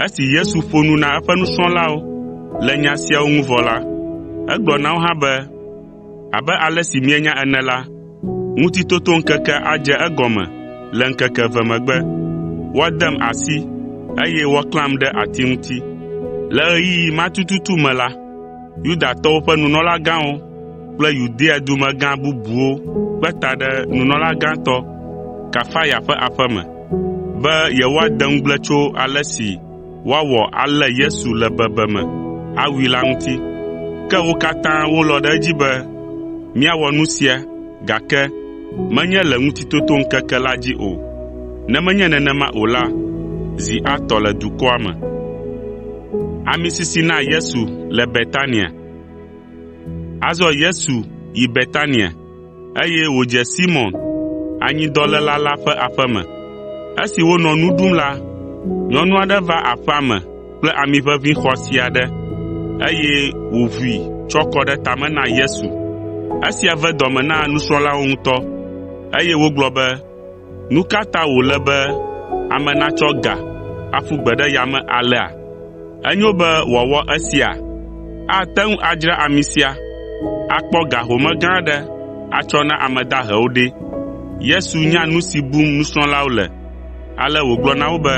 Esi Yesu ƒo nu na eƒe nusrɔ̃lawo le nya siawo ŋu vɔ la, egblɔ na wo hã be, Abe ale si mienya ene la, Ŋutitotoŋkekea adze egɔme le ŋkeke eve megbe. Woadem asi, eye woaklãm ɖe ati ŋuti. Le ɣeyiɣi ma tututu me la, Yudatɔwo ƒe nunɔlagãwo kple Yudea dumegã bubuwo kpe ta ɖe nunɔla gãtɔ Kayafa ƒe aƒe me be yewoade ŋugble tso ale si woawɔ alé Yesu le bebeme awui la ŋuti. Ke wo katã wolɔ̃ ɖe edzi be míawɔ nu sia gake menye le Ŋutitotoŋkeke la dzi o, ne menye nenema o la, zi atɔ le dukɔa me. Azɔ Yesu yi Betania. eye wòdze Simɔn, anyidɔléla la ƒe aƒe me. Esi wonɔ nu ɖum la, nyɔnu aɖe va aƒea me kple ami ʋeʋĩ xɔasi aɖe, eye wòʋui tsɔ kɔ ɖe tame na Yesu. Esia ve dɔme na nusrɔ̃lawo ŋutɔ, eye wogblɔ be, “Nu ka ta wòle be ame natsɔ ga aƒu gbe ɖe yame alea? Enyo be wòawɔ esia? Ate ŋu adzra ami sia, akpɔ ga home gã aɖe atsɔ na ame dahewo ɖe?” Yesu nya nu si bum nusrɔ̃lawo le, ale wògblɔ na wo be,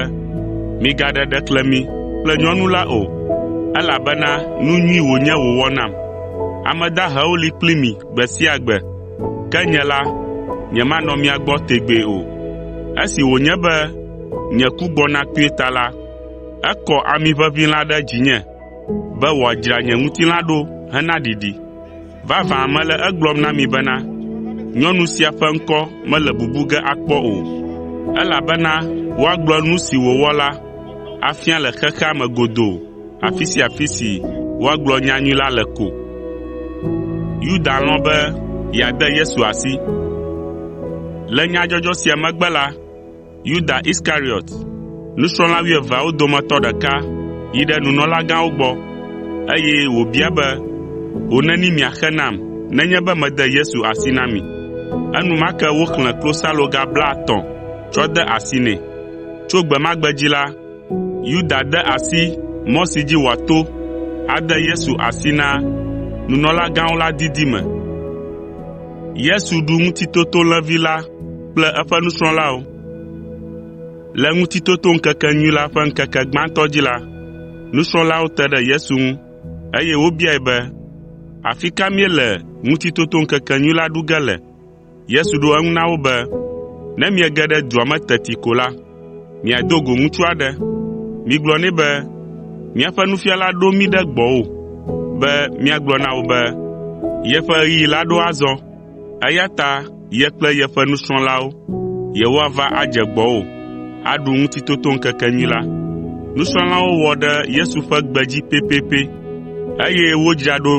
“Migaɖe ɖeklemi kple nyɔnu la o, elabena nu nyui wònye wòwɔ nam. Ame dahewo li kpli mi gbe sia gbe, Ke nye la, nyemanɔ mia gbɔ tegbee o. Esi wònye be nye ku gbɔna kpuie ta la, ekɔ ami ʋeʋĩ la ɖe dzinye be wòadzra nye ŋutilã ɖo hena ɖiɖi. Vavã mele egblɔm na mi bena, nyɔnu sia ƒe ŋkɔ mele bubu ge akpɔ o, elabena woagblɔ nu si wòwɔ la afia le xexea me godoo. afi sia afi si woagblɔ nyanyui la le ko. Yuda lɔ̃ be yeade Yesu asi. Le nyadzɔdzɔ sia megbe la, Yuda Iskariɔt, nusrɔ̃la wuieveawo dometɔ ɖeka yi ɖe nunɔlagãwo gbɔ, eye wòbia be, “Ho neni miaxe nam nenye be mede Yesu asi na mi?” Enumake woxlẽ klosaloga blaetɔ̃ tsɔ de asi nɛ. Tso gbe ma gbe dzi la, Yuda de asi mɔ si dzi wòato ade Yesu asi na nunɔlagãwo la didi me. Yesu ɖu ŋutitotolẽvi la kple eƒe nusrɔ̃lawo. Le Ŋutitotoŋkekenyui la ƒe ŋkeke gbãtɔ dzi la, nusrɔ̃lawo te ɖe Yesu ŋu, eye wobiae be, “Afi ka míele Ŋutitotoŋkekenyui la ɖu ge le?” Yesu ɖo eŋu na wo be, “Ne miege ɖe dua me teti ko la, miado go ŋutsu aɖe. Migblɔ nɛ be, ‘Míaƒe Nufiala ɖo mí ɖe gbɔwò be míagblɔ na wò be, yeƒe ɣeyiɣi la ɖo azɔ, eya ta ye kple yeƒe nusrɔ̃lawo yewoava adze gbɔwò aɖu Ŋutitotoŋkekenyui la.’ ” Nusrɔ̃lawo wɔ ɖe Yesu ƒe gbe dzi pɛpɛpɛ, eye wodzra ɖo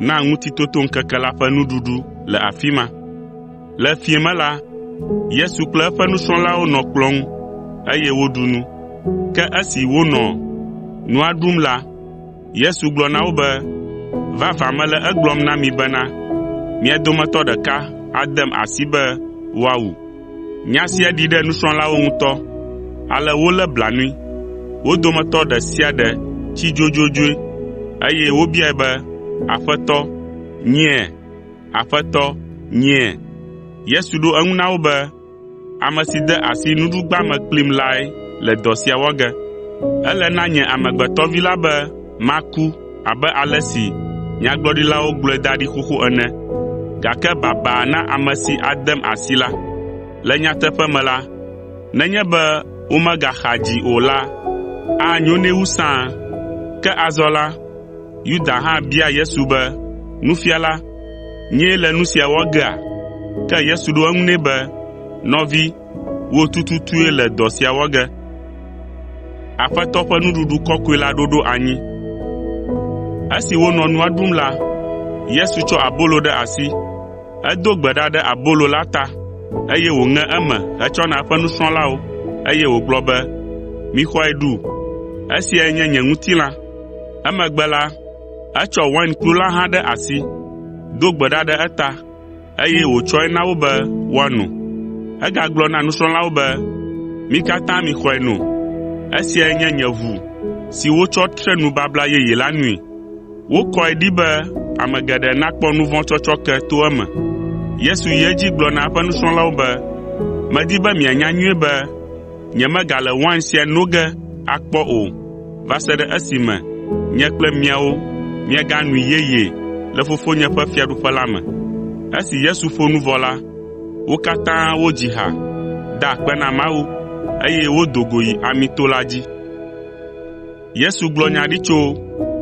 na Ŋutitotoŋkeke la ƒe nuɖuɖu le afi ma. Le fiẽ me la, Yesu kple eƒe nusrɔ̃lawo nɔ kplɔ̃ ŋu, eye woɖu nu. Ke esi wonɔ nua ɖum la, Yesu gblɔ na wo be, “Vavã mele egblɔm na mi bena, mia dometɔ ɖeka adem asi be woawu.” Nya sia ɖi ɖe nusrɔ̃lawo ŋutɔ, ale wolé blanui. Wo dometɔ ɖe sia ɖe tsi dzodzodzoe, eye wobiae be, “Aƒetɔ, nyea? Aƒetɔ, nyea?” Yesu ɖo eŋu na wo be, “Ame si de asi nuɖugba me kplim lae le dɔ sia wɔ ge. Ele na nye Amegbetɔ Vi la be maku, abe ale si nyagblɔɖilawo gblɔe da ɖi xoxo ene. Gake baba na ame si adem asi la! Le nyateƒe me la, nenye be womegaxa dzi o la, anyo nɛ wu sãa. Ke azɔ la, Yuda hã bia Yesu be, “Nufiala, nyee le nu sia wɔ gea?” Ke Yesu ɖo eŋu nɛ be, “Nɔvi, wò tututue le dɔ sia wɔ ge.” Esi wonɔ nua ɖum la, Yesu tsɔ abolo ɖe asi, edo gbe ɖa ɖe abolo la ta, eye wòŋe eme hetsɔ na eƒe nusrɔ̃lawo, eye wògblɔ be, “Mixɔe ɖu, esiae nye nye ŋutilã.” Emegbe la, etsɔ wainkplu la hã ɖe asi, do gbe ɖa ɖe eta, eye wòtsɔe na wo be woano. Egagblɔ na nusrɔ̃lawo be, “Mi katã mixɔe no. Esiae nye nye ʋu si wotsɔ tre nubabla yeye la nui. Wokɔe ɖi be ame geɖe nakpɔ nu vɔ̃ tsɔtsɔke to eme.” Yesu yi edzi gblɔ na eƒe nusrɔ̃lawo be, “Medi be mianya nyuie be Nyemegale wain sia no ge akpɔ o va se ɖe esime nye kple miawo míaganui yeyee le Fofonye ƒe Fiaɖuƒe la me.” Esi Yesu ƒo nu vɔ la, wo katã wodzi ha, da akpe na Mawu, eye wodo go yi Amito la dzi. Yesu gblɔ nya ɖi tso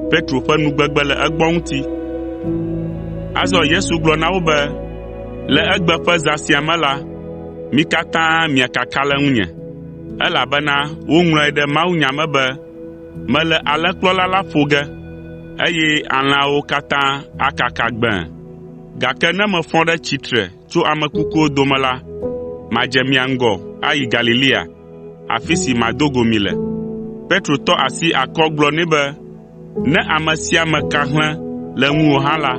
Petro ƒe nugbegbe le egbɔ ŋuti. Azɔ Yesu gblɔ na wo be, “Le egbe ƒe zã sia me la, mi katã miakaka le ŋunye, elabena woŋlɔe ɖe mawunya me be, “ ‘Mele alẽkplɔla la ƒo ge, eye alẽawo katã akaka gbẽe.’ Gake ne mefɔ ɖe tsitre tso ame kukuwo dome la, madze mia ŋgɔ ayi Galilea.” afi si mado go mi le.” Petro tɔ asi akɔ gblɔ nɛ be, “Ne ame sia ame ka hlẽ le ŋuwò hã la,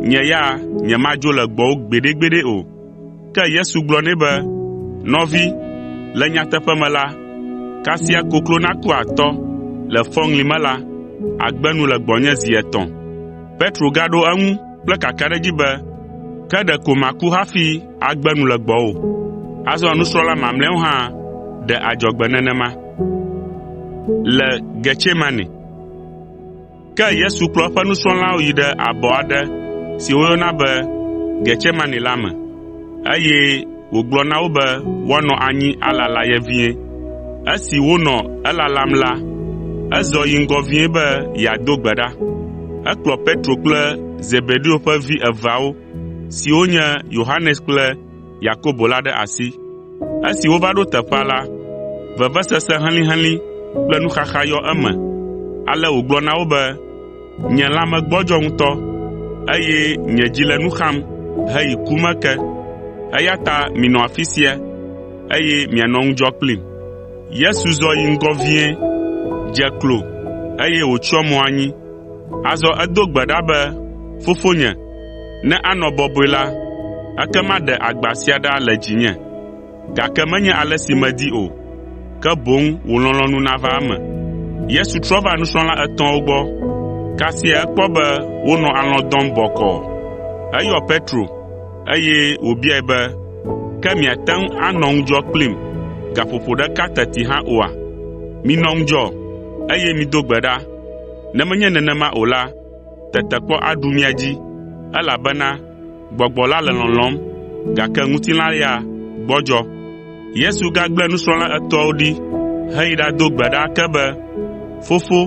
nye ya nyemadzo le gbɔwò gbeɖegbeɖe o.” Ke Yesu gblɔ nɛ be, “Nɔvi, le nyateƒe me la, kasia koklo naku atɔ le fɔŋli me la, àgbe nu le gbɔnye zi etɔ̃.” Petro gaɖo eŋu kple kakaɖedzi be, “Ke ɖeko maku hafi.” agbe nu le gbɔwò. Azɔ nusrɔ̃la mamlɛawo hã ɖe adzɔgbe nenema. Ke Yesu kplɔ eƒe nusrɔ̃lawo yi ɖe abɔ aɖe si woyɔna be Getsemane la me, eye wògblɔ na wo be woanɔ anyi alala ye vie. Esi wonɔ elalam la, ezɔ yi ŋgɔ vie be yeado gbe ɖa. Ekplɔ Petro kple Zebedeo ƒe vi eveawo siwo nye Yohanes kple Yakobo la ɖe asi. Esi wova ɖo teƒea la, vevesese helĩhelĩ kple nuxaxa yɔ eme, ale wògblɔ na wo be, “Nye lãme gbɔdzɔ ŋutɔ, eye nye dzi le nu xam heyi ku me ke, eya ta minɔ afi sia, eye mianɔ ŋudzɔ kplim.” Yesu zɔ yi ŋgɔ vie, dze klo, eye wòtsyɔ mo anyi. Azɔ edo gbe ɖa be, “Fofonye, ne anɔ bɔbɔe la, ekema ɖe agba sia ɖa le dzinye. Gake menye ale si medi o, ke boŋ wò lɔlɔ̃nu nava eme.” Yesu trɔ va nusrɔ̃la etɔ̃awo gbɔ, kasia ekpɔ be wonɔ alɔ̃ dɔm bɔkɔɔ. Eyɔ Petro, eye wòbiae be, “Ke miate ŋu anɔ ŋudzɔ kplim gaƒoƒo ɖeka teti hã oa? Minɔ ŋudzɔ, eye mido gbe ɖa, Ne menye nenema o la, tetekpɔ aɖu mia dzi, elabena gbɔgbɔ la le lɔlɔ̃m, gake ŋutilã ya gbɔdzɔ.” Yesu gagblẽ nusrɔ̃la etɔ̃awo ɖi heyi ɖado gbe ɖa ake be, “Fofo,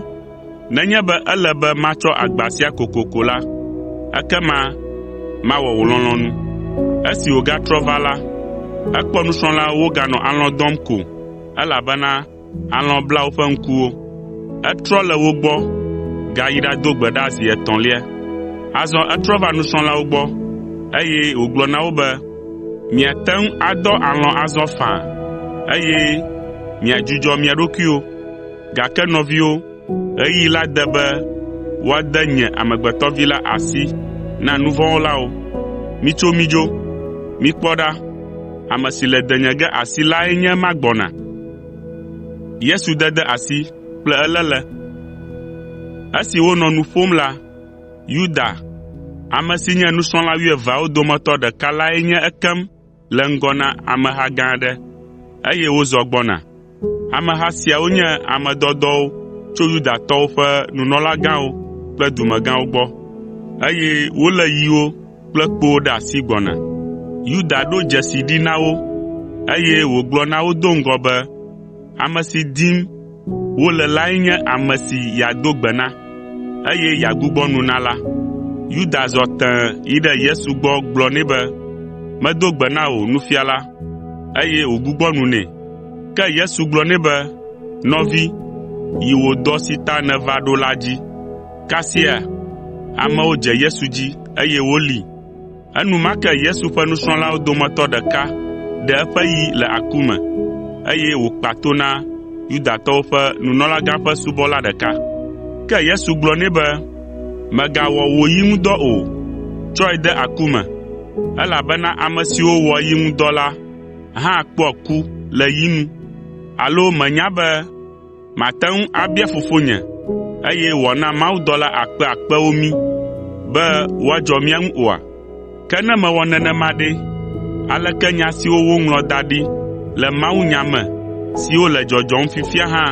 nenye be ele be matsɔ agba sia kokoko la, ekema mawɔ wò lɔlɔ̃nu.” Esi wògatrɔ va la, ekpɔ nusrɔ̃lawo woganɔ alɔ̃ dɔm ko, elabena Alɔ̃ bla woƒe ŋkuwo. Etrɔ le wo gbɔ gayi ɖado gbe ɖa zi etɔ̃lia. Azɔ etrɔ va nusrɔ̃lawo gbɔ, eye wògblɔ na wo be, “Miate ŋu adɔ alɔ̃ azɔ faa, eye miadzudzɔ mia ɖokuiwo. Gake nɔviwo, Ɣeyiɣi la de be woade nye Amegbetɔ Vi la asi na nu vɔ̃ wɔlawo. Mitso midzo! Mikpɔ ɖa, ame si le denye ge asi lae nye ema gbɔna.” Esi wonɔ nu ƒom la, Yuda, ame si nye nusrɔ̃la wuieveawo dometɔ ɖeka lae nye ekem le ŋgɔ na ameha gã aɖe, eye wozɔ gbɔna. Ameha siawo nye ame dɔdɔwo tso Yudatɔwo ƒe nunɔlagãwo kple dumegãwo gbɔ, eye wolé yiwo kple kpowo ɖe asi gbɔna. Yuda ɖo dzesi ɖi na wo, eye wògblɔ na wo do ŋgɔ be, Ame si dim wole lae nye ame si yeado gbe na, eye yeagbugbɔ nu na la.” Yuda zɔ tẽe yi ɖe Yesu gbɔ gblɔ nɛ be, “Medo gbe na wò, Nufiala,” eye wògbugbɔ nu nɛ. Ke Yesu gblɔ nɛ be, “Nɔvi, yi wò dɔ si ta nèva ɖo la dzi.” Kasia amewo dze Yesu dzi, eye wolée. Enumake Yesu ƒe nusrɔ̃lawo dometɔ ɖeka ɖe eƒe yi le aku me, eye wòkpa to na Yudatɔwo ƒe nunɔlagã ƒe subɔla ɖeka. Ke Yesu gblɔ nɛ be, “Mègawɔ wò yi ŋu dɔ o. Tsɔe de aku me, elabena ame siwo wɔa yi ŋu dɔ la hã kpɔa ku le yi nu. Alo mènya be, Mate ŋu abia Fofonye, eye wòana mawudɔla akpe akpewo mí be woadzɔ mía ŋu oa? Ke ne mewɔ nenema ɖe, aleke nya siwo woŋlɔ da ɖi le mawunya me siwo le dzɔdzɔm fifia hã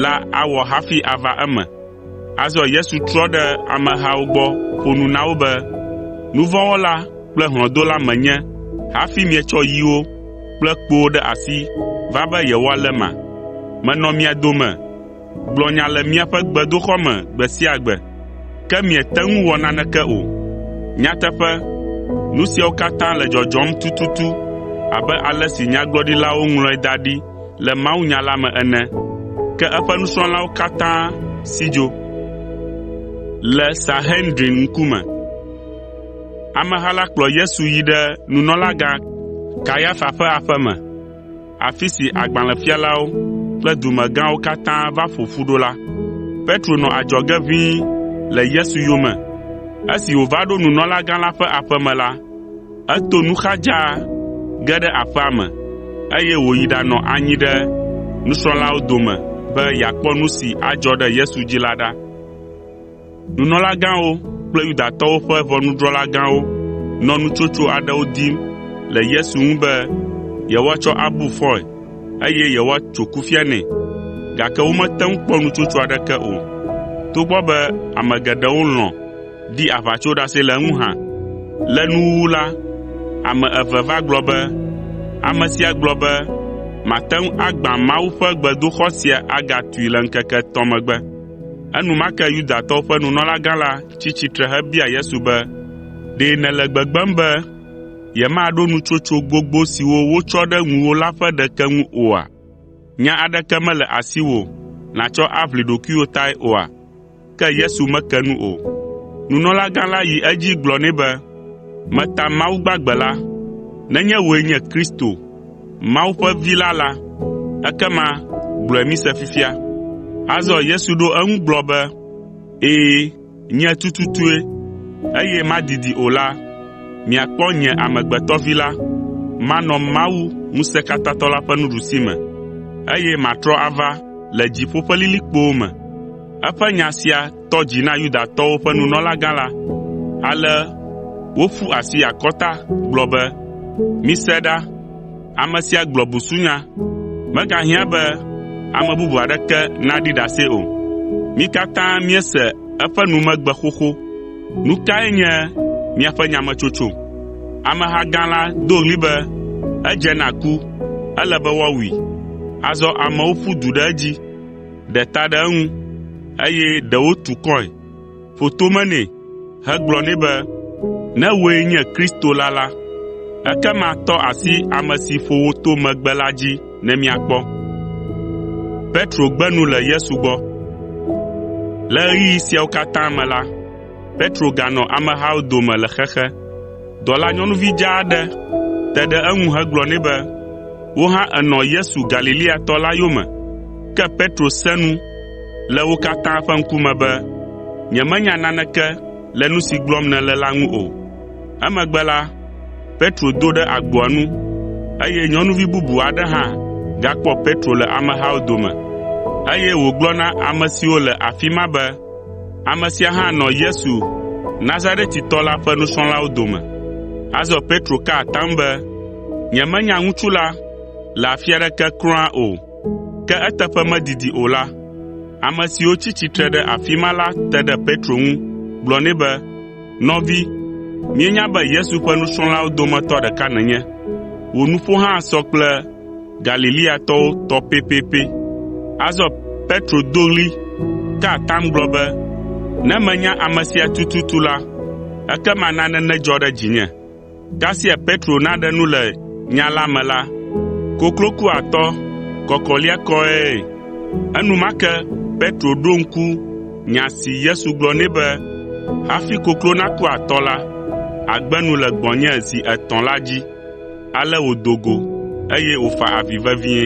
la awɔ hafi ava eme? Azɔ Yesu trɔ ɖe amehawo gbɔ ƒo nu na wo be, “Nu vɔ̃ wɔla kple hlɔ̃dola menye hafi mietsɔ yiwo kple kpowo ɖe asi va be yewoaléma? Menɔ mia dome gblɔ nya le miaƒe gbedoxɔ me gbe sia gbe, ke miete ŋu wɔ naneke o. Nyateƒe, nu siawo katã le dzɔdzɔm tututu abe ale si nyagblɔɖilawo ŋlɔe da ɖi le mawunya la me ene, ke eƒe nusrɔ̃lawo katã si dzo. Ameha la kplɔ Yesu yi ɖe nunɔlagã Kayafa ƒe aƒe me, afi si agbalẽfialawo kple dumegãwo katã va ƒo ƒu ɖo la. Petro nɔ adzɔge ʋĩi le Yesu yome. Esi wòva ɖo nunɔlagã la ƒe aƒe me la, Eto nu xa dzaa ge ɖe aƒea me, eye wòyi ɖanɔ anyi ɖe nusrɔ̃lawo dome be yeakpɔ nu si adzɔ ɖe Yesu dzi la ɖa. Nunɔlagãwo kple Yudatɔwo ƒe ʋɔnudrɔ̃la gãwo nɔ nutsotso aɖewo dim le Yesu ŋu be yewoatsɔ abu fɔe, eye yewoatso kufia nɛ, gake womete ŋu kpɔ nutsotso aɖeke o, togbɔ be ame geɖewo lɔ̃ di aʋatsoɖase le eŋu hã. Le nuwuwu la, ame eve va gblɔ be, “Ame sia gblɔ be mate ŋu agbã Mawu ƒe gbedoxɔ sia agatui le ŋkeke etɔ̃ megbe.” Enumake Yudatɔwo ƒe nunɔlagã la tsi tsitre hebia Yesu be, “Ɖe nèle gbegbem be yemaɖo nutsotso gbogbo siwo wotsɔ ɖe ŋuwò la ƒe ɖeke ŋu oa? Nya aɖeke mele asiwò nàtsɔ aʋli ɖokuiwò tae oa?” Ke Yesu meke nu o. Nunɔlagã la yi edzi gblɔ nɛ be, “Meta Mawu gbagbe la, nenye wòe nye Kristo, Mawu ƒe Vi la la, ekema gblɔe mise fifia.” Azɔ Yesu ɖo eŋu gblɔ be, “Ɛ̃, nye tututue, eye madidi o la, miakpɔ nye Amegbetɔ Vi la, manɔ Mawu Ŋusẽkatãtɔ la ƒe nuɖusime, eye matrɔ ava le dziƒo ƒe lilikpowo me.” Eƒe nya sia tɔ dzi na Yudatɔwo ƒe nunɔlagã la, ale woƒu asi akɔta gblɔ be, “Mise ɖa! Ame sia gblɔ busunya. Megahiã be ame bubu aɖeke naɖi ɖase o. Mí katã míese eƒe numegbe xoxo. Nu kae nye miaƒe nyametsotso?” Ameha gã la do ɣli be, “Edze na ku! Ele be woawui!” Azɔ amewo ƒu du ɖe edzi. ɖe ta ɖe eŋu, eye ɖewo tu kɔe, ƒo tome nɛ hegblɔ nɛ be, “Ne wòe nye Kristo la la, ekema tɔ asi ame si ƒo wò to megbe la dzi ne míakpɔ.” Le ɣeyiɣi siawo katã me la, Petro ganɔ amehawo dome le xexe. Dɔlanyɔnuvi dzaa aɖe te ɖe eŋu hegblɔ nɛ be, “Wò hã ènɔ Yesu Galileatɔ la yome.” Ke Petro sẽ nu le wo katã ƒe ŋkume be, “Nyemenya naneke le nu si gblɔm nèle la ŋu o.” Emegbe la, Petro do ɖe agboa nu, eye nyɔnuvi bubu aɖe hã gakpɔ Petro le amehawo dome, eye wògblɔ na ame siwo le afi ma be, Ame sia hã nɔ Yesu Nazaretitɔ la ƒe nusrɔ̃lawo dome. Azɔ Petro ka atam be, “Nyemenya ŋutsu la le afi aɖeke kura o.” Ke eteƒe medidi o la, ame siwo tsi tsitre ɖe afi ma la te ɖe Petro ŋu gblɔ nɛ be, “Nɔvi, míenya be Yesu ƒe nusrɔ̃lawo dometɔ ɖeka nènye. Wò nuƒo hã sɔ kple Galileatɔwo tɔ pɛpɛpɛ. Azɔ Petro do ɣli ka atam gblɔ be, “Ne menya ame sia tututu la, ekema nane nedzɔ ɖe dzinye.” Kasia Petro naɖe nu le nya la me la, koklo ku atɔ kɔkɔliakɔe. Enumake Petro ɖo ŋku nya si Yesu gblɔ nɛ be, “Hafi koklo naku atɔ la, àgbe nu le gbɔnye zi etɔ̃” la dzi. Ale wòdo go, eye wòfa avi vevie.